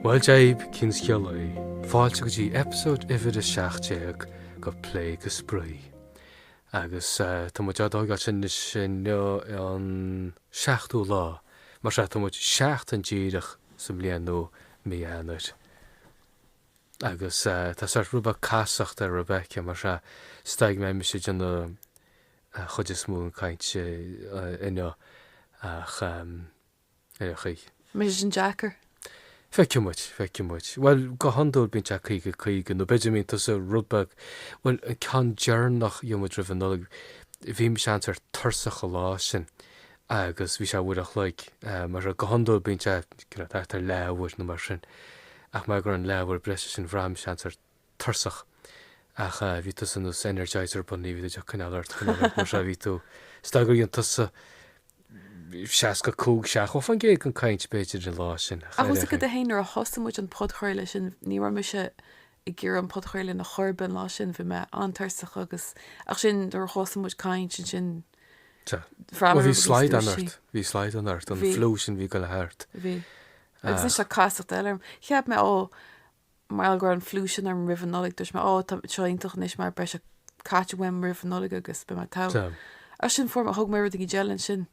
Bhuel Dia dhaoibh, cén scéal é. Fáilte go dtí eipeasóid uimhir 17 de Plé go Spraoi. Agus tá muid á dtógáil sin anois inniu an. 7ú lá, mar sin, tá muid seachtain díreach sa mbliain nua i mí Eanáir. Agus tá sórt rud beag casacht ar Rebecca, mar sin, is dóigh go mbeidh mise ag déanamh an chuid is mó den caint inniu, ach ar aon chaoi. Ní bheidh sé sin deacair, Feicfidh muid, feicfidh muid. Bhuel, go hiondúil bíonn sé caoga, caoga, nó b'fhéidir mbíonn tusa rud beag, bhuel, an ceann deireanach a dhéan muid roimh an Nollaig, bhí mise an-sórt tuirseach an lá sin, agus bhí sé uair an chloig, mar sin, go hiondúil bíonn sé, you know, thart ar leathuair nó mar sin, ach mar gheall ar an leathuair breise sin, bhraith mise an-sórt tuirseach. Ach bhí tusa nós Energizer Bunny, bhí tú ag coinneáil ort, coinneáil ort, mar sin bhí tú. Is dóigh gur dhéan tusa 65 70 faoin gcéad den caint, b'fhéidir, an lá sin. Ach tá a fhios agat féin, nuair a thosaigh muid an podchraoladh sin, ní raibh mise ag iarraidh an podchraoladh a dhéanamh ar chor ar bith an lá sin, bhí mé an-tuirseach agus, ach sin, nuair a thosaigh muid ag caint ansin, bhreathnaigh mé go dtí an dúshlán. Bhí slaghdán ort, bhí slaghdán ort, an fliú sin, a bhí ag goil thart. Bhí. Agus anois tá casacht eile orm. Cheap mé, ó, mar gheall go raibh an fliú sin orm roimh an Nollaig, dúirt mé, 'Ó, tá seo iontach anois mar beidh sé caite uaim roimh an Nollaig agus beidh mé togha. Ansin fuair mé, thóg mé rud éigin eile ansin.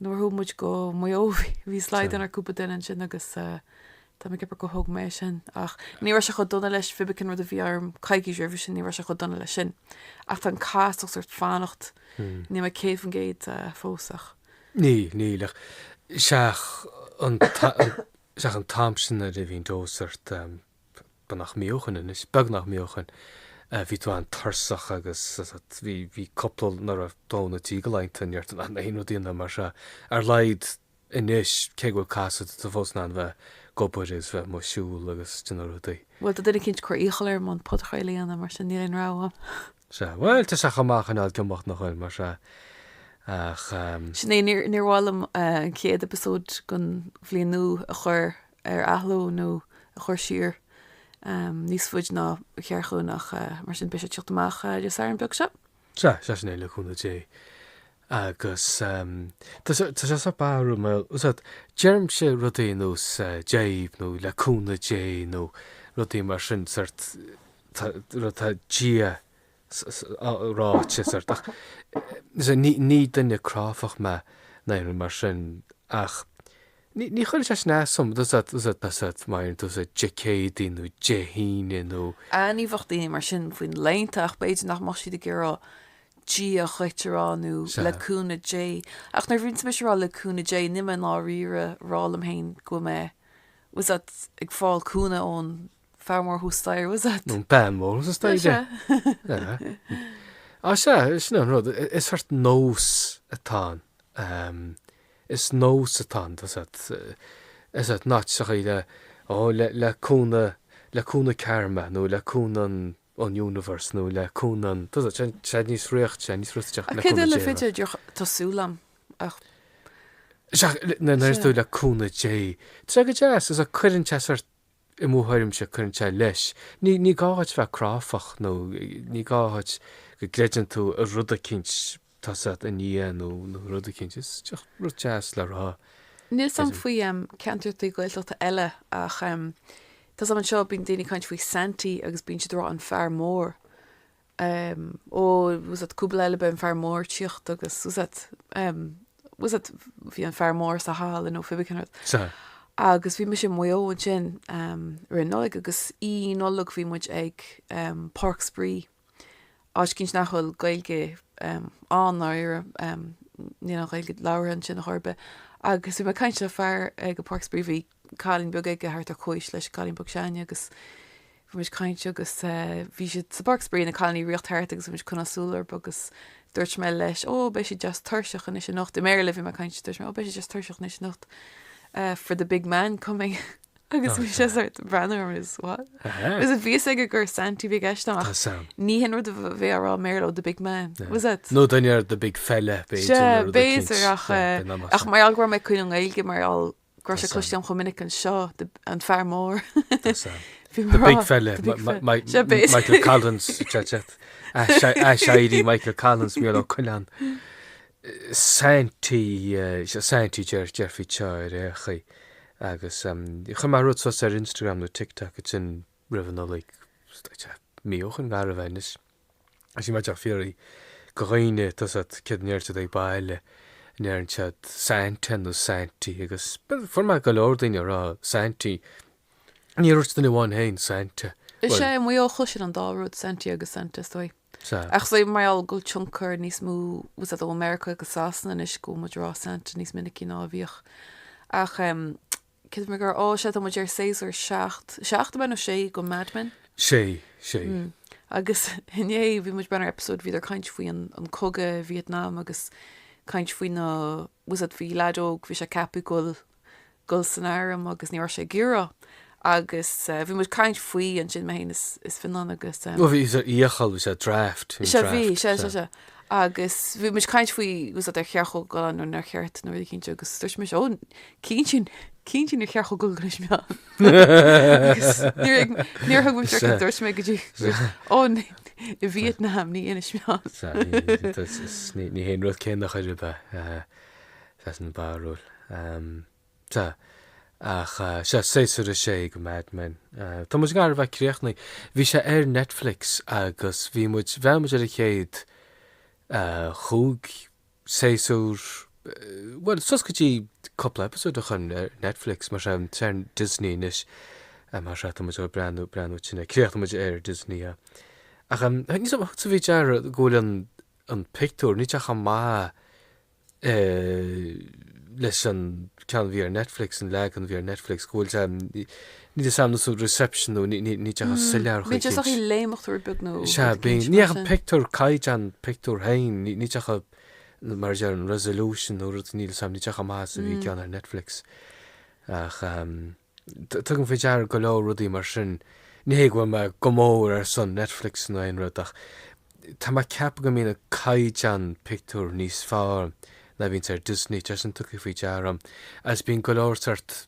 Nuair a chuaigh muid go Maigh Eo, bhí slaghdán ar cúpla duine ansin agus tá mé ag ceapadh gur thóg mé é sin. Ach ní raibh sé chomh dona leis an feckin rud a bhí orm coicís roimhe sin, ní raibh sé chomh dona leis sin. Ach tá an casacht sórt ag fanacht, níl mé 100% fós ach. Níl, níl ach seachas an. Seachas an t-am sin nuair a bhí an dose ort, beagnach míobhán anois, beagnach míobhán, bhí tú an-tuirseach agus bhí, bhí cúpla, nuair a dó nó trí de laethanta, ní raibh tú in ann aon rud a dhéanamh mar sin, ar a laghad anois, cé go bhfuil casacht ort, tá tú fós in ann bheith ag obair agus bheith amuigh ag siúl agus ag déanamh rudaí. Bhuel, tá duine eicínt ag cur iachall orm an podchraoladh a dhéanamh, mar sin níl aon rogha agam. Sea, bhuel, tá sé chomh maith coinneáil ag imeacht nach bhfuil, mar sin, ach. Sin é, níor, níor mhaith liom an chéad eipeasóid den bhliain nua a chur ar athló nó a chur siar níos faide ná ba cheart dúinn ach mar sin beidh sé ag teacht amach Dé Sathairn beag seo. Sea, sea sin é, le cúnamh Dé. Agus tá sé, tá sé sórt barrúil mar gheall, úsáid, deirimse rudaí nós Dia dhaoibh nó le cúnamh Dé nó rudaí mar sin, sórt. tá Dia ráite, sórt. Ach sea, ní duine cráifeach mé ná aon rud mar sin, ach ní chuireann sé sin as dom, má deireann tú Dé Céadaoin nó Dé hAoine nó. Ach ní bheadh daoine mar sin faoi na laethanta, ach b'fhéidir nach mbeadh siad ag iarraidh Dia dhuit a rá, nó le cúnamh Dé. Ach nuair a bhíonn mise ag rá le cúnamh Dé, níl mé i ndáiríre a rá liom féin go bhfuil mé, tá 's a'd, ag fáil cúnamh ón. fear mór thuas staighre, tá 's a'd? Nó bean mhór thuas staighre, tá 's a'd? Sea. Á sea, sin an rud, is sórt nós atá ann. Is nós atá ann, is sórt nós a chuir ó le cúnamh, le cúnamh Karma nó le cúnamh an Universe nó le cúnamh an, tá 's a'd, sé níos fhriocht, sé níos fhriotaiteach, le cúnamh Dé. Cad é le b'fhéidir, tá súil agam, ach. Sea, nuair a deir tú le cúnamh Dé, tá sé go deas, is sórt cuireann sé sórt I mo thuairimse, cuireann sé leis. Ní ní gá dhuit bheith cráifeach nó ní gá dhuit go gcreideann tú i rud eicínt, tá 's a'd, i nDia nó nó rud eicínt. Is just rud deas le rá. Níl 's a'm faoi em ceantrachaí Gaeltachta eile ach em tá 's a'm anseo bíonn daoine ag caint faoi Santy agus bíonn siad a' rá an fear mór. ó, tá 's a'd, cúpla lá eile beidh an fear mór ag tíocht agus tá 's a'd ehm, tá 's a'd bhí an fear mór sa halla nó pé ar bith cén rud. Sea. Agus bhí mise i Maigh Eo ansin ehm roimh an Nollaig agus Oíche Nollag bhí muid ag ehm Páirc Spraoi, áit eicínt nach bhfuil Gaeilge ehm ann i ndáiríre ehm níl an Ghaeilge labhartha ansin ar chor ar bith agus bhí mé ag caint le fear ag an Páirc Spraoi bhí cailín beag aige thart ar chomhaois leis an gcailín beag s'againne agus bhí muid ag caint agus bhí siad sa bpáirc spraoi na cailíní ag ritheacht thart agus bhí muid ag coinneáil súil orthu agus dúirt mé leis ó beidh siad deas tuirseach anois anocht i mBéarla bhí mé ag caint dúirt mé ó beidh siad deas tuirseach anois anocht for the big man coming agus bhí sé sórt ag breathnú orm is what ní raibh a fhios aige gur Santy a bhí i gceist a'm ach ní hin rud a bheifeá ag rá i mBéarla ó the big man tá 's a'd nó duine ar the big fella b'fhéidir ach mar gheall go raibh mé ag cuimhneamh i nGaeilge mar gheall go raibh sé cloiste a'm chomh minic anseo, an fear mór. The big fella, Michael Collins, sin é Michael Collins, Mícheál Ó Coileáin. Santy, Santy a déarfaí anseo ar aon chaoi. Agus chuir mé rud suas ar Instagram nó TikTok, ansin roimh an Nollaig, mí ó shin gar a bheith anois. Is bhí mé ag fiafraí de dhaoine, tá 's a'd, céard a deir siad ag baile, an ndeireann siad Santa nó Santy agus fuair mé go leor daoine ag rá Santy. Níor dhúirt duine amháin fhéin Santa. Is é, i Maigh Eo chloisinn an dá rud, Santy agus Santa is dóigh. Sea. Ach is é mar gheall go bhfuil tionchar níos mó, tá 's a'd, ó Mheiriceá agus Sasana anois go bhfuil muid ag rá Santa níos minicí ná a bhíodh. Ach em. Cé mé gur fhág sé tá muid ar séasúr seacht, seacht ab ea, nó sé go Mad Men? Sé, sé. Mm. Agus inné bhí muid ag breathnú ar eipeasóid, bhíodar ag caint faoi an, an cogadh i Vietnam agus caint faoi na, was it, bhí leaid óg, bhí sé ceapaithe goil, goil san airm agus ní raibh sé ag iarraidh agus eh, bhí muid ag caint faoi ansin, mé fhéin is, is Fionán agus eh, Nó bhí sé iachall, bhí sé draft, bhí sé sé, bhí, draft, sé, sé, sé. sé. Agus bhí muid ag caint faoi, was it, ar cheart dhó goil ann nó nár cheart nó rud éicínt agus dúirt sé muis, ó, Cén sin? Cén sin ar cheart dhó goil go Inis Meáin? Agus níor ag- níor thuig mé Sure. seiceamh, dúirt mé go dtí Sure. Ó, ní- i Vietnam, ní in Inis Meáin. Sa- ní- tá- s- ní ní hé an rud céanna a chor ar bith eh, sa san barrúil. Ehm, so, ach eh, sea, séasúr a sé go Mad Men. Eh, tá muid gar a bheith críochnaithe. Bhí sé ar Netflix agus bhí muid, bhreathnaigh muid ar an chéad eh, chúig séasúr, bhuel, suas go dtí cúpla eipeasóid ó shin ar Netflix, mar sin, tá sé ar Disney anois, mar sin, tá muid ag breathnú, breathnú sin é, críochnóidh muid é ar Disney é. Ach em, níl a fhios agam, sa faoi deara go bhfuil an, an pictiúr, níl sé chomh maith eh leis an ceann bhí ar Netflix, an leagan bhí ar Netflix, go bhfuil sé Níl a fhios agam nó reception nó níl sé chomh soiléir chuig Bíonn sé ag léimeacht rud beag nó Sea, rud bíonn. éicint Ní mar dheacha sin. pictiúr caighdeán pictiúr féin, níl sé chomh mar a déarfá an resolution nó rud níl a fhios agam níl sé chomh maith is a bhí an ceann ar Netflix. Ach ehm tugaim faoi deara go leor rudaí mar sin. Ní hé go bhfuil mé go mór ar son Netflix nó aon rud ach tá mé ag ceapadh go mbíonn an caighdeán pictiúr níos fearr ná bhíonns ar Disney, tá sé sin tugtha faoi deara agam agus bíonn go leor sort,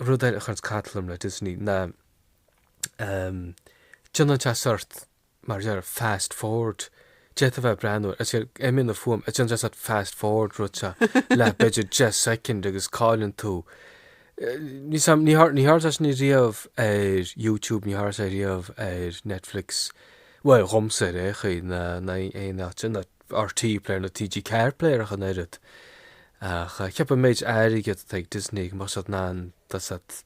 Rud eile a chuireanns cantal orm le Disney ná ehm déanann sé sort mar a déarfá fast forward d'fhéadfá bheith ag breathnú air is imíonn an fuaim is déanann sé sort fast forward rud seo le b'fhéidir 10 soicind agus cailleann tú níl a fhios agam ní ní tharla sé sin riamh ar YouTube ní tharla sé riamh ar Netflix bhuel dhomsa ar aon chaoi ná ná aon áit ná RTÉ player ná TG4 player ach an oiread. Ach cheapfá an méid airgid atá ag Disney go mbeadh siad in ann just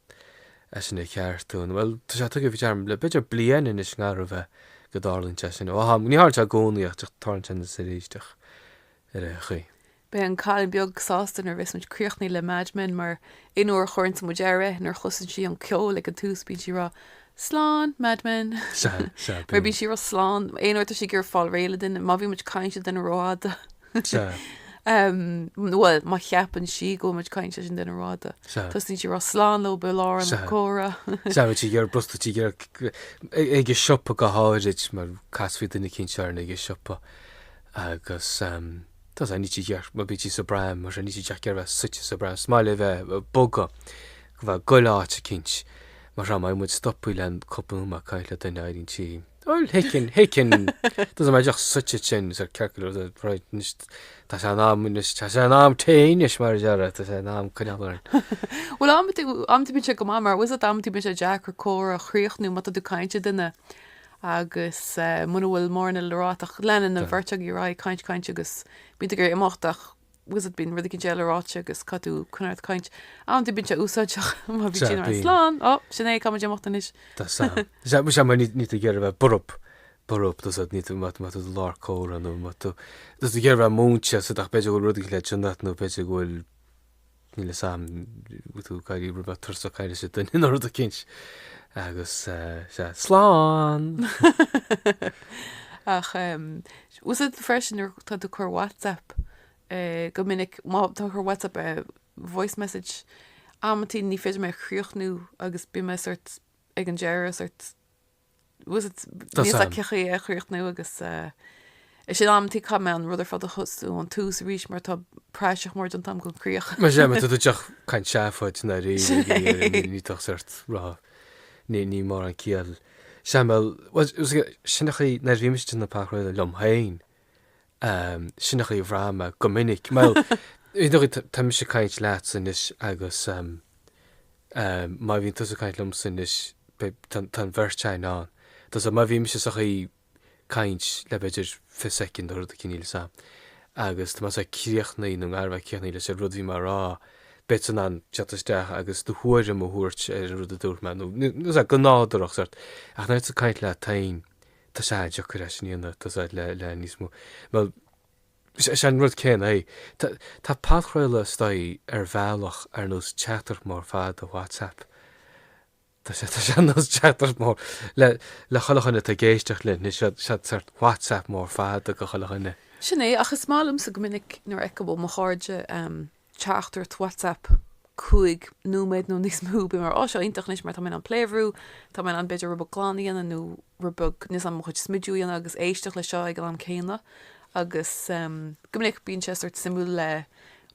é sin a cheartú. Bhuel, tá sé tugtha faoi deara le b'fhéidir bliain anois i ngar a bheith go dtarlaíonn sé sin. Ó, ní tharlaíonn sé i gcónaí ach tarlaíonn sé anois is arís ach ar aon chaoi. Beidh an cailín beag sásta nuair a bheas muid críochnaithe le Mad Men mar aon uair a chuireanns muid air é, nuair a chloiseann sí an ceol ag an tús bíonn sí ag rá Slán, Mad Men! Sea, sea, Mar bíonn bíonn. sí ag rá slán aon uair atá sí ag iarraidh fáil réidh le duine. Má bhíonn muid ag caint le duine rófhada. Bhuel, má cheapann sí go bhfuil muid caint leis an duine rófhada, tosaíonn sí rá slán leob i lár an comhrá. Seabhas, sí gur brustar tí ag an siopa go háirid, mar casfaí duine cinnte orainn ag an siopa agus tá fhios agat, níl sí ag iarraidh, má bhíonn sí sa bpram, mar sin níl sí ag iarraidh a bheith suite sa bpram, is maith léi bheith bogadh, nó bheith ag goil áit eicínt. Mar sin, má bhíonn muid stoptha le cúpla nóiméad caint le duine, éiríonn sí. Well, thiceann, thiceann. Doesn't matter, díreach suite ansin, is ar circular, the right, anois, tá sé in am, anois, tá sé in am tae anois, mar a déarfá, tá sé in am coinneáil orainn. Bhuel, amantaí, amantaí bíonn sé go maith, mar bhfuil fhios agat, amantaí bíonn sé deacair comhrá a chríochnú má tá tú ag caint le duine, agus, eh, mura bhfuil mórán eile le rá, ach leanann an bheirt agaibh ar aghaidh caint, caint, agus bíonn tú ag iarraidh imeacht, ach bhfuil fhios agat, bíonn rud éicint eile ráite agus caithfidh tú coinneáil ort ag caint, amantaí bíonn sé úsáideach má bhíonn sí ann slán. Ó, sin é, caithfidh muid imeacht anois. Tá fhios a'm. Sea, bhuel, sea, mar níl, níl tú ag iarraidh a bheith borb, borb, tá fhios agat, níl tú, má, má tá tú i lár comhrá nó má tú, tá fhios agat ag iarraidh a bheith múinte, fhios agat, ach b'fhéidir go bhfuil rud éicint le déanamh agat nó b'fhéidir go bhfuil, níl fhios a'm, bhfuil tú ag éirí roinnt tuirseach ag caint leis an duine nó rud éicint. Agus, eh, sea, slán! Ach, eh, bhfuil fhios agat freisin nuair atá tú ag cur WhatsApp go minic, má tá tú ag cur WhatsApp voice message amantaí ní féidir liom é a chríochnú agus bíonn mé sort ag an deireadh sort bhfuil fhios agat níl fhios agam cén chaoi é a chríochnú agus ansin amantaí caithfidh mé an rud ar fad a thosú ón tús arís mar tá praiseach mór déanta agam den chríoch. Mar sin tá tú díreach ag caint seafóid i ndáiríre, níl, níl, níl tú ach sort ag rá, níl, níl mórán ciall. Sea, bhuel, sin an chaoi, nuair a bhímse ag déanamh podchraoladh liom féin, sin an chaoi a bhraithim go minic. Bhuel, tá mise ag caint leatsa anois agus má bhíonn tusa ag caint liomsa anois, tá an bheirt againn ann. Tá fhios agat, má bhímse sa chaoi caint le b'fhéidir 20 soicind nó rud éicint, níl fhios agam. Agus tá mise críochnaithe, nó i ngar a bheith críochnaithe leis a' rud bhí mé a' rá, beidh tusa in ann teacht isteach agus do thuairim a thabhairt ar an rud a dúirt mé, nó nó sa, go nádúrach, sort. Ach nuair atá tú ag caint leat féin, tá sé an-deacair é sin dhéanamh, tá fhios agat, le, le níos mó. Bhuel, sé, sé an rud céanna é. Tá, tá podchraoladh is dóigh ar bhealach ar nós teachtaireacht mór fada WhatsApp. Tá sé ar nós teachtaireacht mór le chuile dhuine atá ag éisteacht linn, sea sórt WhatsApp mór fada do chuile dhuine. Sin é, ach is maith liomsa go minic nuair a fheicim ó mo chairde teachtaireacht WhatsApp cúig nóiméad nó níos mó, bím mar, 'Á, seo iontach anois mar tá mé in ann play a bhrú, tá mé in ann b'fhéidir rud beag glanadh a dhéanamh nó rud beag níl fhios agam mo chuid smidiú a dhéanamh agus éisteacht leis seo ag an am céanna. Agus go minic bíonn sé sórt suimiúil le.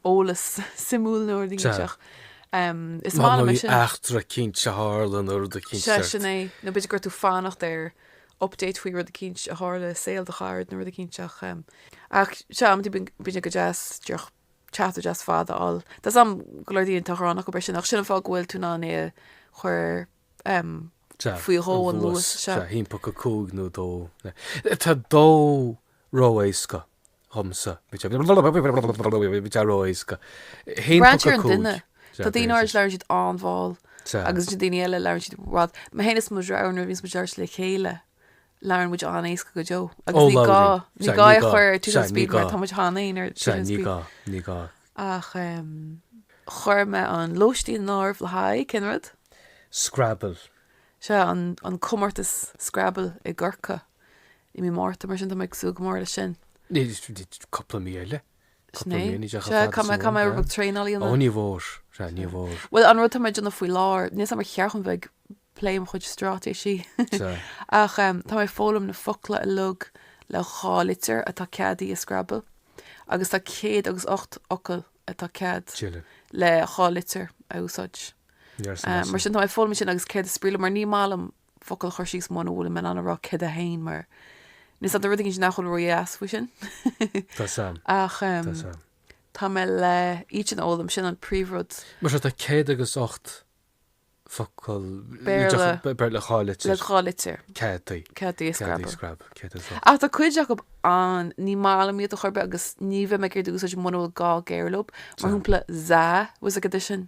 eolas suimiúil nua nó rud iontach. Is maith liom é sin. Mar má bhí eachtra eicínt a tharla nó rud eicínt ceart. Sea, sin é. Nó b'fhéidir gur tú fanacht ar update faoi rud eicínt a tharla i saol do charad nó rud eicínt ach em. Ach, sea, amantaí bíonn, bíonn sé go deas díreach chat deas fada a fháil. Tá a fhios agam go leor daoine a cheapfadh nach b'fhearr sin ach sin an fáth go bhfuil tú in ann é a chuir em Sea. faoi dhó an luas. Sea. Sea, timpeall go cúig nó a dó. Tá dó ró-éasca. dhomsa. Braitheann sé ar an duine. Tá daoine áirid labhrann siad an-mhall agus ansin daoine eile labhrann siad i bhfad. Mé fhéin is mo dheartháir nuair a bhíonns muid beirt le chéile labhrann muid an-éasca go deo agus ní gá, ní gá é a chur ar two speed mar tá muid cheana fhéin ar two speed. Ní gá, ní gá. Ach em chuir mé an lóistín in áirithe le haghaidh, cén rud? Scrabble. Sea an, an comórtas Scrabble i gCorcaigh. i mí Márta, mar sin tá mé ag súil go mór leis sin. cupla mí eile. Sin é. Sea, caithfidh mé traenáil a dhéanamh? Ó, ní mór. Sea, ní mór. Bhuel, an rud atá mé ag déanamh faoi láthair, níl 's agam an cheart dom a bheith ag plé mo chuid stráitéisí ach tá mé ag foghlaim na focla uilig le dhá litir atá ceadaithe i Scrabble agus tá céad agus ocht fhocal atá cead le dhá litir a úsáid. Mar sin tá mé ag foghlaim sin agus céard is brí leo mar ní maith liom focal a chur síos muna bhfuilim in ann a rá céard é féin mar níl a fhios agam tá rud éigin sin nach bhfuil ró dheas faoi sin. Tá a fhios agam. Ach Tá a fhios agam. tá mé le iad sin a fhoghlaim, sin an príomhrud. Mar so tá céad agus ocht focal Béarla Béarla dhá litir. le dhá litir. Ceadaithe. Ceadaithe i Ceadaithe Scrabble. Scrabble. Ceadaithe i Scrabble. Ach tá cuid acu ann ní maith liom iad ar chor ar bith agus ní bheidh mé ag iarraidh iad a úsáid muna bhfuil gá géar leo, mar Tá. shúmpla za nó, níl a fhios agam, sin.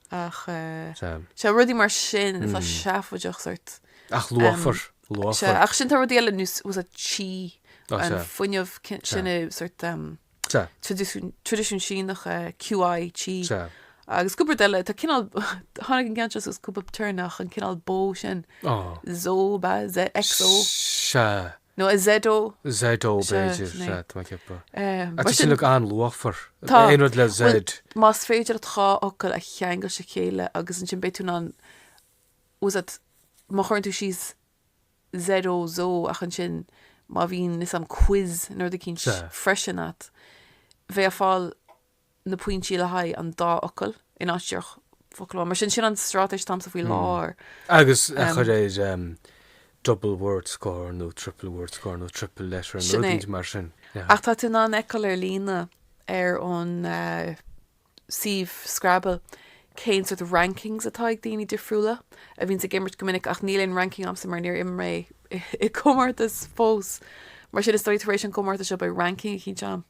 Ach sea, rudaí mar sin atá seafóideach sort. Ach luachmhar, luachmhar. Sea, ach sin tá rudaí eile, you know, what's it, chi, an fuinneamh sin i sort traidisiúin Síneacha, QI chi. Sea. Agus cúpla rud eile, tá cineál, tháinig an ceann seo suas cúpla babhta, nach, an cineál bó sin, zó, ba, ze, zo. Sea. Nó an ZO. ZO, Sea, b'fhéidir. Sea, tá mé ag ceapadh. Tá sé sin an-luachmhar. Tá. Aon rud le Z. Bhuel, más féidir leat dhá fhocal a cheangal le chéile agus ansin beidh tú in ann, a úsáid, má chuireann tú síos ZO, Zo, ach ansin má bhíonn, níl a fhios agam quiz nó rud eicínt Sea. freisin agat, bheifeá ag fáil, na pointí le haghaidh an dá fhocal in áit díreach focal amháin. Mar sin, sin an straitéis atá agamsa faoi láthair. Agus a chur ar double word score nó triple word score nó triple letter nó rud éigin mar sin. Ach tá tú in ann a fheiceáil ar líne ar an suíomh Scrabble cén sort rankings atá ag daoine difriúla a bhíonns ag imirt go minic ach níl aon ranking agamsa mar níor imir mé i gcomórtas fós. Mar sin, is dóigh tar éis an chomórtais seo beidh ranking eicínt agam.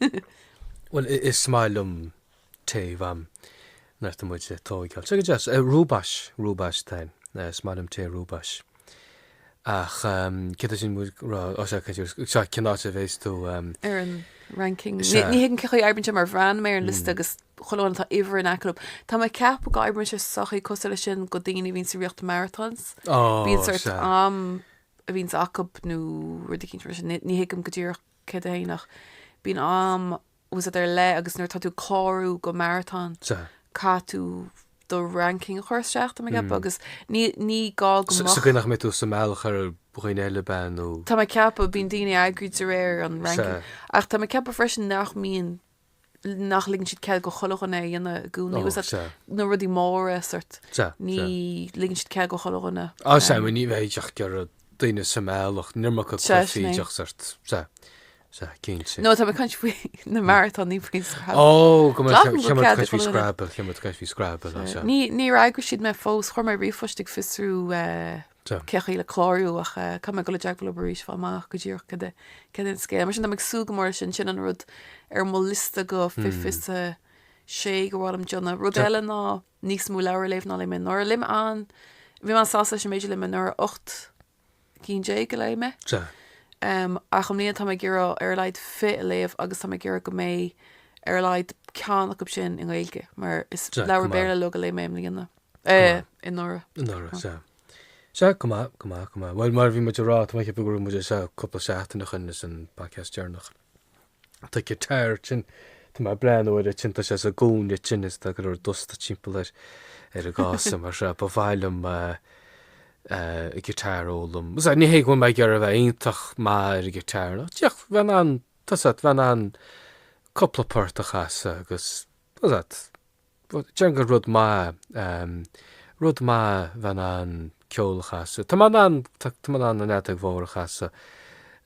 Bhuel, is maith liom tae, am nach bhfuil muid ag tóigeáil. Sé go deas. Rooibos, rooibos tain. Is maith liom tae rooibos. Ach céard sin muid ag rá, á sea, cad é, sea, cén áit a bhéas tú? Ar an ranking. Sea. Ní thuigim cé chaoi a n-oibríonn sé, mar bhreathnaigh mé ar an liosta agus chuile dhuine tá uimhir in aice leob. Tá mé ag ceapadh go oibríonn sé sa chaoi cosúil leis sin go daoine a bhíonns ag rith marathons. Bíonn sórt am a bhíonns acub nó rud éicint mar sin. Ní thuigim go díreach. céard é féin ach Bíonn am bhfuil fhios a't ar leith agus nuair atá tú ag clárú go marathon, caithfidh tú do ranking a chur isteach, tá mé ag ceapadh, agus ní ní gá go mbeadh. Sa gcaoi nach mbeidh tú sa mbealach ar dhaoine eile, ab in, nó. Tá mé ag ceapadh, bíonn daoine eagraithe de réir an ranking, ach tá mé ag ceapadh freisin nach mbíonn. nach ligeann siad cead go chuile dhuine é a dhéanamh i gcónaí. Ó, sea. Na rudaí móra sórt, Sea, ní sea. ligeann siad cead go chuile dhuine. Á, sea, bhuel ní bheadh tú ag iarraidh daoine sa mbealach, níor muca Sea, cluichí sin é. oidheach sórt, sea, sea, cinnte. Nó tá mé ag caint faoi na marathons, ní faoin scrabble. Ó, go maith, Ligeann siad cead go cheann muid ag caint faoi chuile dhuine. scrabble, cheann muid ag caint faoi scrabble, á, sea. Ní, níor fhreagair siad mé fós, chuir mé ríomhphost ag fiosrú eh, Tá. cé chaoi le clárú ach caithfidh mé dul i dteagmháil leob arís fáil amach go díreach cad é cad é an scéal. Mar sin, tá mé ag súil go mór leis sin, sin an rud ar mo liosta go fiche fiche a sé gur mhaith liom déanamh. Rud Tá. eile ná níos mó leabhar a léamh ná léigh mé anuraidh. Léigh mé an, bhí mé an-sásta leis an méid a léigh mé anuraidh, ocht gcinn déag a léigh mé. Tá. Em, ach i mbliana tá mé ag iarraidh ar a laghad fiche a léamh agus tá mé ag iarraidh go mbeidh ar a laghad ceann acub sin i nGaeilge mar is Tá, leabhar cuma. Béarla uilig a léigh mé i mbliana. Eh, anuraidh. Anuraidh, sea. Sea, go maith, go maith, go maith. Bhuel, mar a bhí muid ag rá, tá mé ag ceapadh go raibh muid ar feadh cúpla seachtain ó shin leis an bpodcast deireanach. Tá an guitar sin, tá mé ag breathnú air ansin, tá sé sa gcúinne sin is tá go leor dusta timpeall air, ar an gcása, mar seo. Ba mhaith liom an guitar a fhoghlaim. Is ea, ní hé go bhfuil mé ag iarraidh a bheith iontach maith ar an guitar ná tada, ach a bheith in ann, tá's a't, a bheith in ann cúpla port a chasadh agus, tá's a't, Bhuel, déarfainn gur rud maith é. Rud maith é bheith in ann ceol a chasadh. Tá mé in ann, tá mé in ann an fheadóg mhór a chasadh,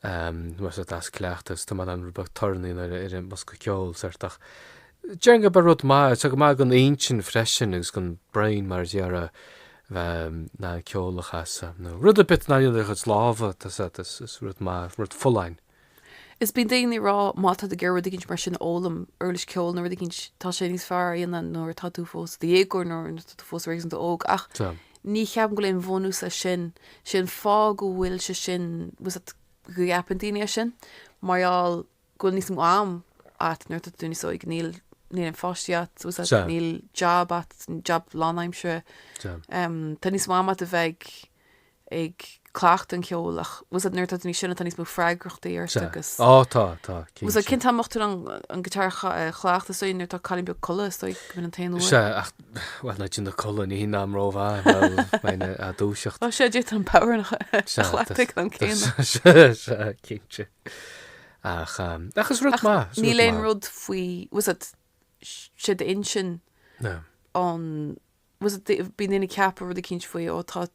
mé sórt as cleachtas, tá mé in ann rud beag torann a dhéanamh ar an mbosca ceoil, sórt, ach déarfainn gurb é rud maith é. Tá go maith don intinn freisin agus don brain, mar a déarfá, bheith in ann ceol a chasadh, nó rud ar bith a dhéanann tú le do chuid lámha, tá, is rud maith, rud folláin. Is bíonn daoine ag rá, má tá tú ag iarraidh rud éicint mar sin a fhoghlaim, uirlis ceoil nó rud éicint, tá sé níos fearr é a dhéanamh nuair atá tú fós i do dhéagóir nó nuair atá tú fós réasúnta óg. Ach ní cheapaim go bhfuil aon bhunús leis sin. Sé an fáth go bhfuil sé sin, bhfuil fhios a't, go gceapann daoine é sin, mar gheall go bhfuil níos mó am a't nuair atá tú níos óige. Níl, níl aon pháistí a't, bhfuil fhios a't, níl jab a't, jab lánaimseartha. Tá níos mó am a't a bheith ag, ag cleachtadh an cheoil ach tá a fhios agat nuair atá tú níos sine tá níos mó freagrachtaí ort agus. Sea. Á tá, tá. Cinnte. Tá a fhios agat cén t-am a mbeadh tú in ann an guitar a chleachtadh is é nuair atá an cailín beag ina codladh is dóigh go bhfuil an t-aon uair. Sea ach bhuel nuair atá sí ina codladh ní hin am rómhaith bhuel mé na a dúiseacht. Á sea d'fhéadfadh an power a chleachtadh an céanna. Sea sea cinnte. Ach ach is rud maith is rud maith. Níl aon rud faoi tá a fhios agat sé d'intinn an. tá a fhios agat, bíonn daoine ag ceapadh rud eicínt faoi, ó tá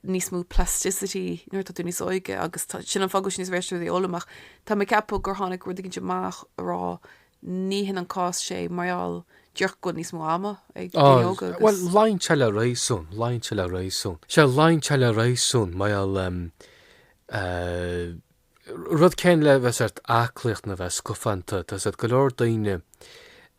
níos mó plasticity nuair atá tú níos óige agus tá, sin an fáth go bhfuil sé níos éasca duit é a fhoghlaim ach tá mé ag ceapadh gur tháinig rud eicínt amach a rá ní hin an cás sé mar gheall díreach go bhfuil níos mó ama ag daoine óga agus. Bhuel, luíonn sé le réasún, luíonn sé le réasún. Sea luíonn sé le réasún mar gheall eh. rud céanna le bheith sórt aclaíocht nó bheith scafánta. Tá sórt go leor daoine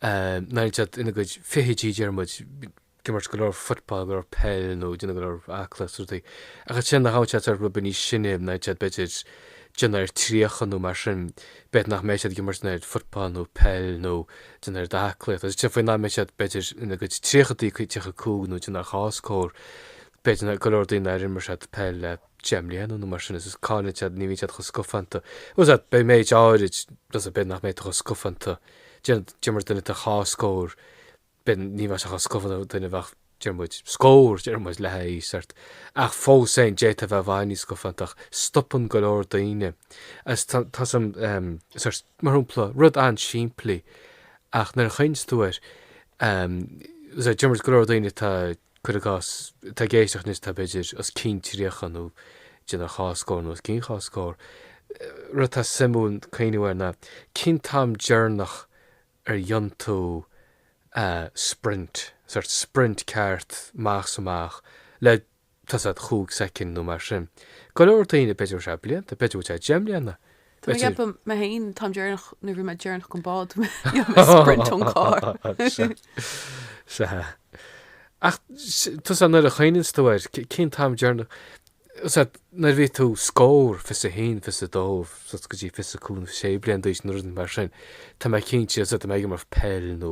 nuair atá siad ina gcuid fichidí, deir muid, ag imirt go leor football, go leor peil nó ag déanamh go leor aclaíocht is rudaí. Ach ansin nuair a fhaigheann siad sórt rud beag níos sine nuair atá siad b'fhéidir ag déanamh ar tríocha nó mar sin, b'fhéidir nach mbeidh siad ag imirt an oiread football nó peil nó ag déanamh an oiread aclaíocht. Agus ansin faoin am a bheidh siad b'fhéidir ina gcuid tríochadaí, 35 nó ag déanamh ar dhá scór, b'fhéidir go leor daoine nár imir siad peil le. 10 mbliana nó mar sin is is cailleann siad ní bhíonn siad chomh scafánta tá a fhios agat beidh méid áirid tá a fhios agat b'fhéidir nach mbeidh tú chomh scafánta deir muid duine atá dhá scór bliain ní bheadh sé chomh scafánta le duine a bheadh deir muid scór deir muid le haghaidh sórt ach fós féin d'fhéadfá a bheith i bhfad níos scafánta ach stopann go leor daoine is tá tá a fhios agat um, sórt mar shampla rud an-simplí ach nuair a chuimhníonn tú air um, tá a fhios agat deir muid go leor daoine atá Cuir i gcás, atá ag éisteacht anois atá b'fhéidir os cionn tríocha nó ag déanamh ar dhá scór nó os cionn dhá scór. Rud atá suimiúil cuimhniú air ná cén t-am deireanach ar dhéan tú sprint, sórt sprint ceart amach 's amach le tá a fhios agat, chúig soicind nó mar sin. Go leor daoine b'fhéidir is ea blianta, b'fhéidir go bhfuil sé deich mbliana. Tá mé ag B'fhéidir. ceapadh mé féin, an t-am deireanach, nuair a bhí mé deireanach ag an bád, bhí mé ag sprint ón carr. Sea. Sea. Ach s- tá a fhios agat nuair a chuimhníonns tú air, c- cén t-am deireanach, tá a fhios agat nuair a bhí tú scór, fiche is a haon, fiche is a dó, suas go dtí fiche is a cúig, sé bliain d'aois nó rud mar sin, tá mé cinnte, tá a fhios agat tá mé ag imirt peil nó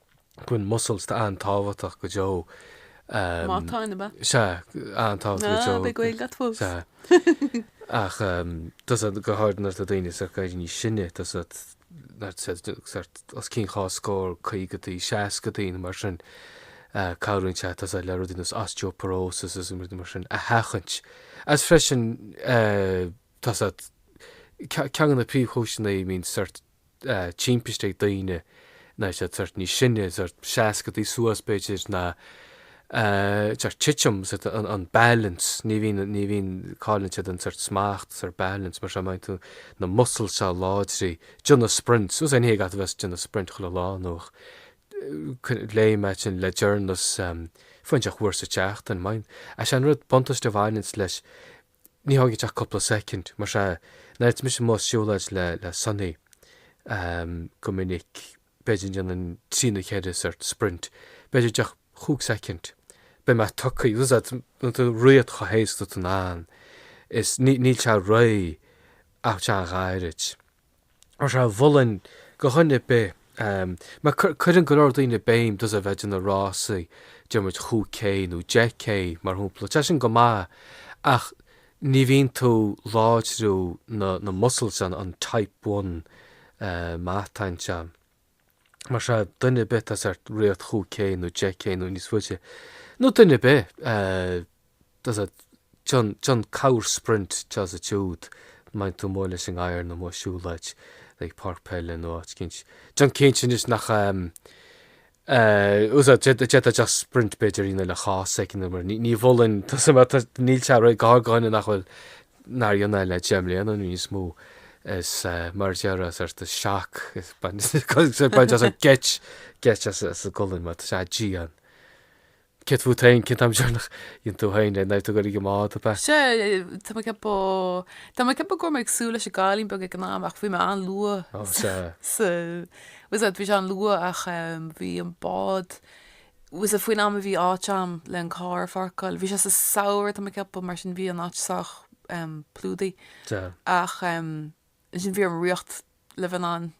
Bíonn muscles an-tábhachtach go deo. Matáin, ab ea? Sea, an-tábhachtach go deo. Ah, beidh Gaeilge agat fós. Sea. Ach tá a fhios agat go háirid nuair atá daoine ag éirí níos sine, tá a fhios agat os cionn dhá scór, caogaidí, seascaidí nó mar sin. Cabhraíonn sé, tá a fhios agat le rudaí nós osteoporosis is rudaí mar sin a sheachaint. Agus freisin tá a fhios agat, ceann de na príomhchúiseanna a mbíonn timpiste ag daoine atá sort níos sine, sort seascadaí suas b'fhéidir ná sort titim, sort an balance, ní bhíonn, ní bhíonn cailleann siad an sort smacht, sort balance mar sin má bhíonn tú na muscles seo a láidriú, déanamh sprints, agus ní gá dhuit a bheith ag déanamh sprint chuile lá nó ach léigh mé sin le journals foinseach uair sa tseachtain, má bhíonn, sé an rud buntáiste a bhaineanns leis Ní thógann sé ach cúpla soicind, mar sin, nuair atá mise amuigh ag siúlóid le Sonny, go minic, b'fhéidir, déanaim trí nó ceithre sort sprint, b'fhéidir, just cúig soicind, beidh mé tugtha, agus tá tú ag rith chomh héasca is atá tú in ann, is níl sé ró, ach tá sé an-ghairid. mar sin mholfainn go dhuine ar bith, mar cuireann go leor daoine béim just a bheith ag déanamh rásaí déarfaidh muid chúig K nó deich K mar shompla. Tá sin go maith ach ní bhíonn tú ag láidriú na muscles an type one matáin seo. mar sin, duine ar bith atá ag rith chúig K nó deich K nó níos faide, nó duine ar bith déan corr-sprint anseo is ansiúd, má bhíonn tú amuigh leis an ngadhar nó amuigh ag siúlóid ag páirc peile nó áit éicint, déan cinnte anois nach em. agus, d'fhéadfá just sprint b'fhéidir, you know le chás éicint nó mar, ní mholfainn, tusa mar níl sé ró, go háirid go dhuine nach bhfuil, nár rinne é le deich mbliana nó níos mó, is mar a déarfá, sórt of shock, baineann sé geit as an gcolainn, mar tá sé dian. Céard fút féin, cén t-am deireanach a rinne tú féin é, nuair a bhí tú ag goil ag an mbád ab ea? Sea, tá mé ag ceapadh, tá mé ag ceapadh go raibh mé ag súil leis an gcailín beag ag an am ach bhí mé an-luath. Ó, sea. Sea, bhí sé an-luath ach bhí an bád Agus faoin am a bhí áit a'm le an carr a pháirceáil, bhí sé sa samhradh tá mé ag ceapadh, mar sin bhí an áit sách plódaithe. Sea. Ach ansin bhí orm rith le bheith in ann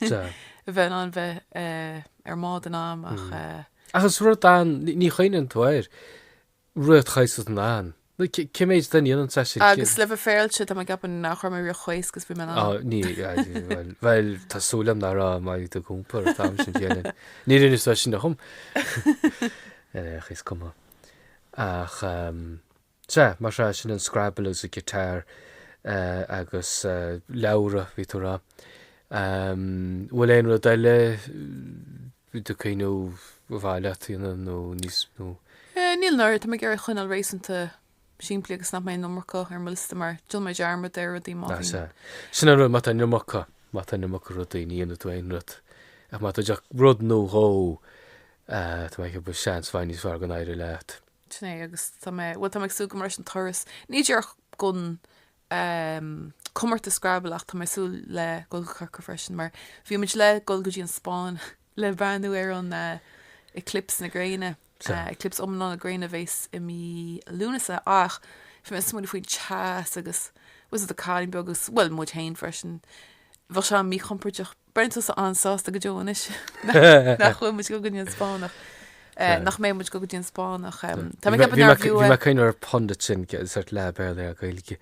Sea. le bheith in ann bheith ar an mbád in am ach. Agus rud an, ní chuimhníonn tú air. Rith chomh héasca is atá tú in ann. Nó cé mhéad dínn a dhéananns é sin? Agus le bheith féaráilte, tá mé ag ceapadh nach raibh mé ag rith chomh héasca agus a bhí mé in ann. Á, ní, bhuel, bhuel, tá súil agam nach raibh má bhí tú ag iompar an t-am sin chéanna. Ní rinne sé sin dhom. Ar fhéach, is cuma. Ach, sea, mar sin, sin an Scrabble agus an Guitar agus leabhra, bhí tú a rá. An bhfuil aon rud eile? a bhí tú ag cuimhneamh ba mhaith leat a dhéanamh níos mó? Eh, níl, níl mar tá mé ag iarraidh é a choinneáil réasúnta simplí agus nach mbeidh an iomarca ar mo liosta mar déanann mé dearmad ar rudaí má Ah, sea. bhíonn. Sin an rud, má tá an iomarca, má tá an iomarca rudaí, ní dhéanann tú aon rud. Ach má tá just rud nó dhó, eh, tá mé ag ceapadh go bhfuil seans i bhfad níos fearr go n-éireoidh leat. Sin é, agus tá mé, bhuel tá mé ag súil go mbeidh an turas, ní díreach go um comórtas Scrabble ach tá mé ag súil le dhul go Corcaigh freisin mar bhí muid le dhul go dtí an Spáinn le breathnú ar an eclipse na gréine. Eclipse iomlán na gréine a bhéas i mí Lúnasa ach bhí mé ag smaoiniú faoin teas agus fiú sa, ó, cailín beag agus bhuel muid féin freisin bheadh sé an-mhíchompóirteach Braitheann tusa an-sásta go deo anois nach bhfuil muid ag goil go dtí an Spáinneach, nach mbeidh muid ag goil go dtí an Spáinneach. Tá mé ag ceapadh nár bhfiú é. Bhí mé ag cuimhniú ar pun duit ansin, sórt leath Béarla ar Ghaeilge.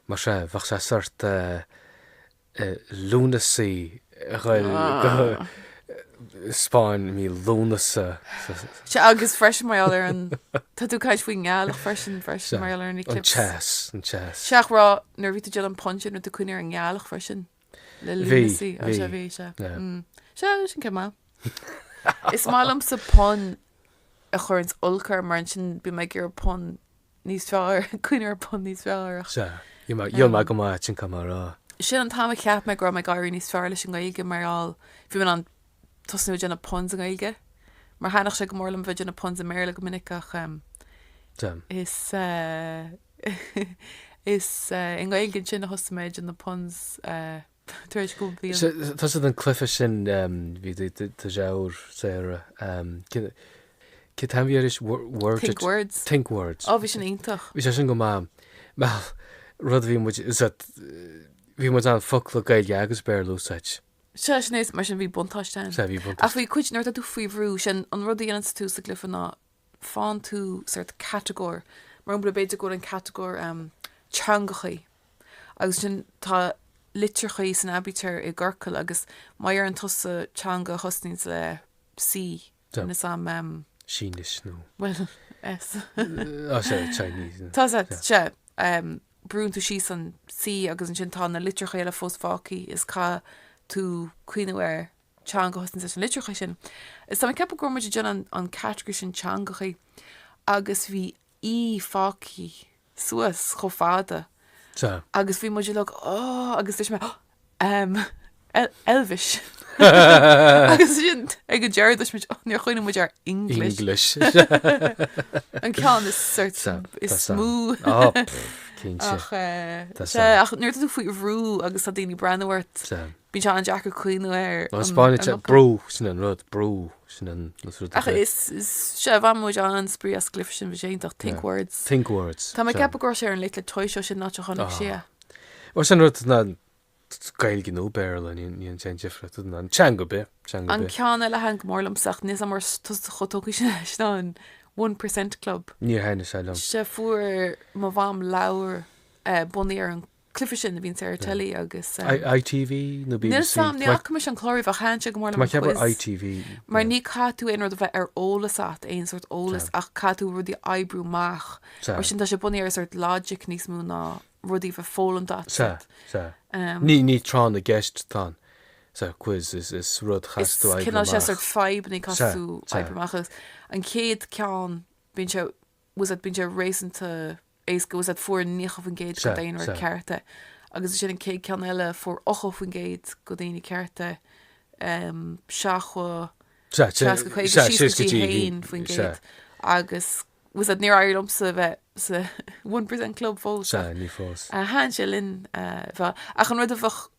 Mar sea, bheadh sé sórt Lúnasaí, Ghaeilge. Spáinn mí Lúnasa sa. Sea, agus freisin mar gheall ar an. Tá tú ag caint faoin ngealach freisin, freisin mar gheall ar an eclipse. Sea, an teas, an teas. Sea, ach raibh, nuair a bhí tú ag déanamh an pun sin, raibh tú ag cuimhniú ar an ngealach freisin, le Lúnasaí. Bhí, bhí. Sea, bhí, sea. Sea, sin ceann maith. Is maith liomsa pun a chuireanns olc orm, mar ansin bím ag iarraidh pun níos fearr, cuimhniú ar pun níos fearr ach. Sea. Gheall mé go mba ait an cuma a rá. Sin an t-am a cheap mé go raibh mé ag éirí níos fearr leis an nGaeilge mar gheall, bhí mé in ann tosnú ag déanamh puns i nGaeilge. Mar thaitníonn sé go mór liom a bheith ag déanamh puns i mBéarla go minic ach em is eh is eh i nGaeilge ansin a thosaigh mé ag déanamh na puns eh. tar éis go mbíonn. Tá, sa, den cluiche sin bhí ar dár saoire Cén t-ainm a bhí arís? Word Think Words. Think Words. Ó bhí sin iontach. Bhí sé sin go maith. Bhuel, rud a bhí muid bhí muid in ann focla Gaeilge agus Béarla a úsáid. Sea, sin é, mar sin bhí buntáiste ann. Sea, bhí buntáiste. Ach bhí cuid nuair atá tú faoi bhrú, sin an rud a dhéanann tú sa gcluiche ná faigheann tú sórt catagóir, mar shampla, b'fhéidir go bhfuil an catagóir teangachaí agus ansin tá litreachaí san aibítear i gciorcal agus má dheireann tusa teanga a thosnaíonns le C, a Sam? Sínis nó. bhuel, S. Tá sé, Chinese. Tá sé, sea. Brúnn tú síos an C agus ansin tá na litreachaí eile fós fágthaí is caithfidh tú cuimhniú ar. teanga a thosnaíonns leis na litreacha sin. Is tá mé ag ceapadh go raibh muid ag déanamh an category sin teangachaí agus bhí E fágthaí suas chomh fada Sea. agus bhí muid uilig Ó! agus dúirt mé Em, El- Elvish! agus ansin ag an deireadh deir muid Níor chuimhnigh muid ar English! English! An ceann is sórt Sea, is tá sam. mó Á, pff, cinnte. ach eh, Tá sea, sam. ach nuair atá tú faoi bhrú agus tá daoine ag breathnú ort Sea. Bíonn sé an-deacair cuimhniú ar An Spáinnis, an fhocal. brú, sin an rud, brú, sin an, na rudaí Ach sin. is, is, sea, bhain muid an-spraoi as an gcluife sin, bhí sé iontach, think Yeah. words. Think words. Tá mé ag ceapadh go raibh sé ar an Late Late Toy Show, sin an áit a chonaic Ah. sé. Bhuel, sin rud na, Gaeilge nó Béarla, ní, ní dhéanann sé aon difríocht, is an teanga ar bith, teanga ar An bith. ceann eile a thaitin go mór liomsa ach níl 'fhios a'm an raibh tusa chomh tógtha sin leis ná an one percent club. Níor thaitin sé liom. Sea, fuair mo mham leabhar eh, bunaithe ar an Cluife sin a bhíonn sé ar teilí agus. ITV nó BBC? Níl 'fhios a'm, ní fhaca mise an clár riamh ach thaitin sé go mór liom an quiz. Tá mé ag ceapadh ITV. Mar ní chaithfidh tú aon rud a bheith ar eolas agat, aon sort eolas, ach caithfidh tú rudaí a oibriú amach. Mar sin tá sé bunaithe ar an sort logic níos mó ná rudaí a bheith foghlamtha a'd. Sea. Sea, sea. Ní tráth na gceist atá ann sa quiz, is rud a chaithfeas tú oibriú amach. Is cineál sé sort fadhbannaí a chaithfeas tú oibriú amach agus an chéad ceann bíonn sé bhfuil 'fhios a'd bíonn sé réasúnta éasca bhfuil 'fhios a'd fuair 90% den daonra ceart é agus ansin an chéad ceann eile fuair 80% de dhaoine ceart é 70 60 50 síos go dtí 1% agus bhfuil 'fhios a'd níor éirigh liomsa bheith sa 1% club fós ach ní fós ach thaitin sé linn ach an rud a bheadh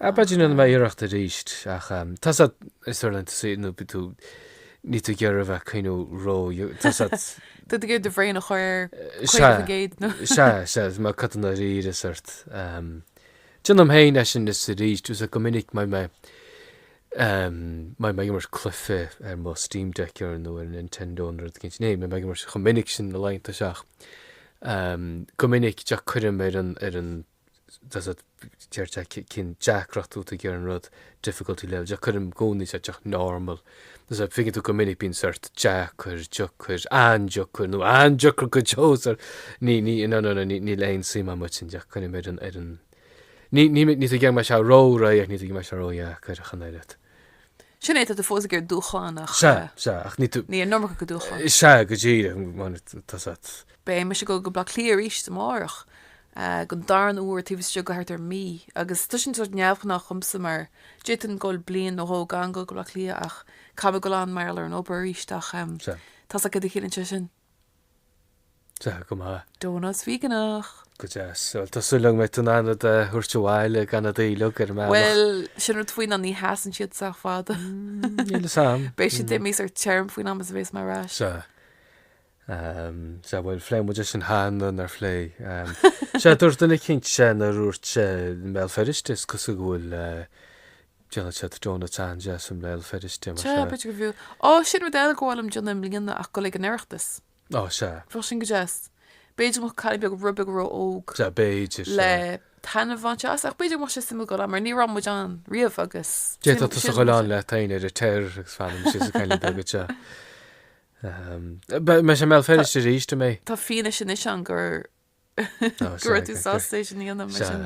B'fhéidir déanfaidh mé iarracht arís ach tá 'fhios a'd ar na laethanta saoire nó bíonn tú níl tú ag iarraidh a bheith ag cuimhniú ró tá 'fhios a'd. Tú ag iarraidh do bhrain a chur ar 50% nó. Sea, sea, is má cotadh na riail is ort. Déanaim féin é sin is arís tá 'fhios a'd go minic má tá mé má tá mé ag imirt cluife ar mo Steam Deck ar nó ar an Nintendo nó rud éigin níl mé ag imirt chomh minic sin na laethanta seo ach go minic díreach cuirim ar an ar an Tá 'fhios a'd deir sé cén deacracht atá tú ag iarraidh an rud difficulty level díreach cuirim i gcónaí sa díreach normal. Tá 'fhios a'd faigheann tú go minic bíonn sort deacair, deacair, an-deacair nó an-deacair go deo sar ní ní no no no níl aon suim a'm ansin díreach coinním ar an ar an ní ní níl tú ag iarraidh go mbeidh sé ró réidh ach níl tú ag iarraidh go mbeidh sé ró dheacair ach an oiread. Sin é tá tú fós ag iarraidh dúshlán ach Sea sea ach níl tú ní an iomarca de dhúshlán. sea go díreach. Beidh mise ag dul go Baile Átha Cliath arís amárach Den darna uair taobh istigh de thart ar mhí, agus tá sin sórt neamhghnách dhomsa mar d'fhéadfainn dul bliain nó dhó gan dul go Baile Átha Cliath ach caithfidh mé dul ann mar gheall ar an obair arís ach tá 'fhios a'd céard a chiallaíonn sé sin? Tá go maith. Donuts Víoganach! Go deas. Bhuel, tá súil agam go mbeidh tú in ann rud a thabhairt abhaile gan iad a ithe ar an mbealach. Bhuel, sin rud faoi ná ní sheasann siad sách fada. Níl 'fhios a'm. Beidh siad imithe thar téarma faoin am is a bheas mé ar ais. Sea. Um, sea, bhuel, phléigh muid é sin cheana, nár phléigh? Um, sea, dúirt duine eicínt sé nuair a dúirt sé i mBéal Feirste, is cosúil go bhfuil, eh, déanann siad donuts an-deas i mBéal Feirste, mar Sea, sea. b'fhéidir go mb'fhiú. Ó, sin rud eile gur mhaith liom déanamh i mbliana ach dul ag an Oireachtas. Ó, sea. Bheadh sin go deas. B'fhéidir go mbeadh cailín beag, rud beag ró-óg, Sea, b'fhéidir, sea. le taitneamh a bhaint as, ach b'fhéidir go mbeadh sé suimiúil dul ann, mar ní raibh muid ann riamh agus sin, D'fhéadfadh tusa sin, a dhul ann le t'aonar ar t'fhear agus fanfaidh mise ag cailín beag, sea. Beidh sé i mBéal Feirste aríst, an mbeidh. Tá fianaise anois ann gur go raibh tú sásta é sin a dhéanamh, mar sin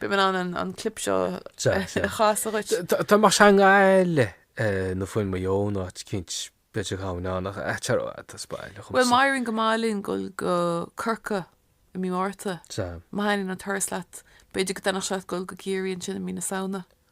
beidh mé in ann an clip seo a chasadh dhuit. Tá más i nGaillimh nó fiú i Maigh Eo, nó áit éicint b'fhéidir go ngabhfainn ann, ach ait ar fhad, tá spá eile chomh maith. Bhuel, má éiríonn go maith linn dul go Corcaigh i mí Márta, má thaitníonn an turas leat, b'fhéidir go dtaitneodh sé leat dul go Ciarraí ansin i mí na Samhna.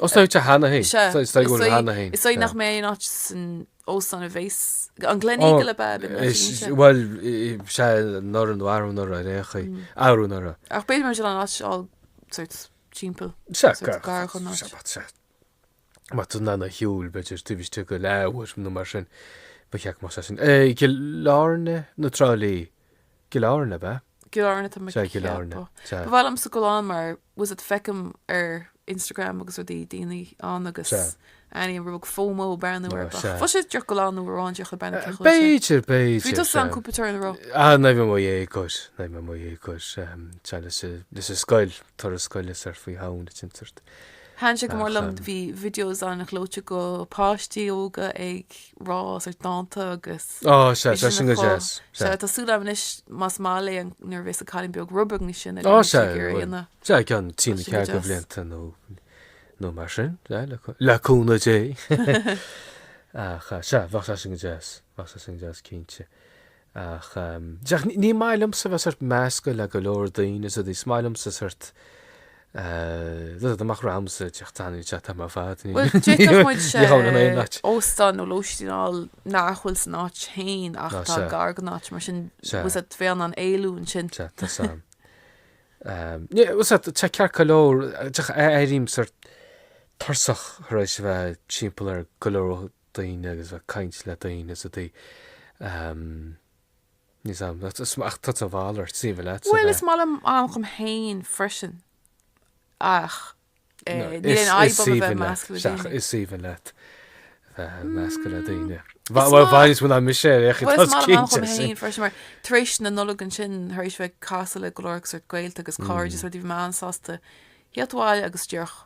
Os ná te cheana féin. Sea. Is dóigh go bhfuil cheana féin. Is dóigh nach mbeidh aon áit san óstán a bheas, an Gleneagle ab ea a b'in na línte? Bhuel, sea, nor an mharbh nor a fhraoch í. Abhrú nor a. Ach b'fhéidir go mbeidh sé lán áit eile sort timpeall. Sea, ga, sea, má tá, má tá tú in ann a shiúl b'fhéidir taobh istigh de leathuair nó mar sin, ba cheart go mbeadh sé sin. I gCill Airne nó Trá Lí? I gCill Airne, ab ea? I gCill Airne, tá mé Sea, i gCill Airne, ag ceapadh. sea. Ba mhaith liomsa dul ann mar was it, feicim ar Instagram agus rudaí daoine ann agus Sea. airím rud beag FOMO ag breathnú air. sea. Bhfuil a fhios agat, díreach dul ann uair amháin díreach le breathnú ar chéile sin? B'fhéidir, b'fhéidir. Bhí tusa ann sea. cúpla uair, nach raibh. Ah, nuair a bhí mé i mo dhéagóir, nuair a bhí mé i mo dhéagóir. em, sea, leis a- leis an scoil, turas scoile sort faoi shamhain a dtint ort. Thaitin sé go mór liom, bhí videos an-ghleoite de pháistí óga ag rá sort dánta agus bhí sé sin go deas, sea, tá súil agam anois más maith léi nuair a bhéas an cailín beag rud beag níos sine gur féidir é a dhéanamh. Sea, i gceann trí nó ceathair de bhlianta nó nó mar sin, le cúnamh Dé. Ach sea, bheadh sé sin go deas, bheadh sé sin go deas cinnte. Ach díreach, ní maith liomsa bheith sort meascadh le go leor daoine is rudaí, is maith liomsa sort dul amach domsa, díreach, tá an chat thar mo fad, dá mbeadh muid in ann óstán nó lóistín a fháil nach bhfuil san áit féin ach atá gar don áit, mar sin, bhfuil a fhios agat, a bheith in ann éalú ansin. Sea, tá a fhios agam. sea, tá ceart go leor, díreach, airím sort tuirseach tar éis a bheith timpeall ar go leor daoine agus bheith ag caint le daoine is rudaí, níl a fhios agam. Ach tá tusa a mhalairt, is maith leatsa bheith. Bhuel, is maith liom am dhom féin freisin, ach níl aon fhadhb orm a bheith measctha le daoine. Is aoibhinn leat bheith measctha le daoine. Bhuel, i bhfad níos mó ná mise ar aon chaoi, tá tú cinnte. Is maith liom am dhom féin freisin, mar tar éis na Nollag ansin, tar éis bheith ag casadh le go leor agus sort gaolta agus cairde is rudaí, bhí mé an-sásta thíocht abhaile agus díreach,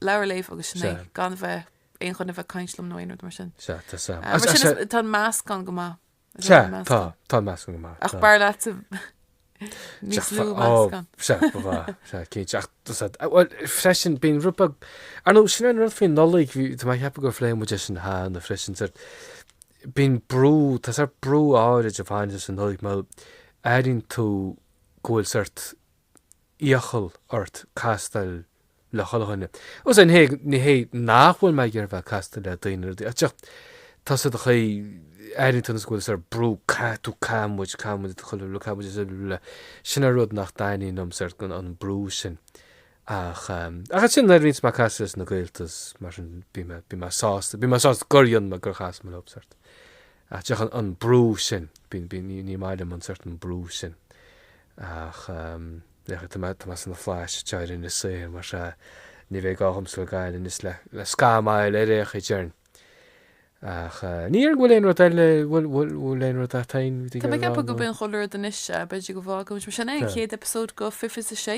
leabhar a léamh agus sin é, gan bheith. aon choinne bheith ag caint liom nó aon rud mar sin. Sea, tá sam. Mar sin is tá an meascán go maith. Sea, tá, tá an meascán go maith. Ach b'fhearr leatsa níos lú meascán. Sea, ba mhaith, sea, cinnte. Ach, tusa, bhuel, freisin, bíonn grúpa, ar nó sin an rud faoin Nollaig, bhí, tá mé ag ceapadh gur phléigh muid é sin cheana freisin, sort, bíonn brú, tá sort brú áirid a bhaineann leis an Nollaig, mar airíonn tú go bhfuil sort iachall ort castáil le chuile dhuine. Sea, ní hé, ní hé nach bhfuil mé ag iarraidh a bheith ag castáil le daoine ar bith, ach tá sé an chaoi, airíonn tú nós go bhfuil sort brú caithfidh tú caithfidh muid caithfidh muid de chuile rud caithfidh muid de chuile rud, sin an rud nach dtaitníonn liom, sort an brú sin. Ach, ach ansin nuair a bhíonns mé ag castáil leis na gaolta is mar sin bíonn mé, bíonn mé sásta, bíonn mé sásta gur dhéan mé gur chas mé leo, sort Ach deochann an brú sin, ní maith liom an certain brú sin, ach féach, tá mé sna flaithis atá ar an saothar mar sea, ní bheidh gá dhomsa gabháil aníos le scamaill ar fhéach a dtearn. Ach ní dhéarfainn go bhfuil aon rud eile, bhfuil aon rud eatain? Tá mé ag ceapadh gurb in chuile rud anois, sea, b'fhéidir go bhfágfaidh muid mar sin é, an chéad eipeasóid de fiche fiche a sé.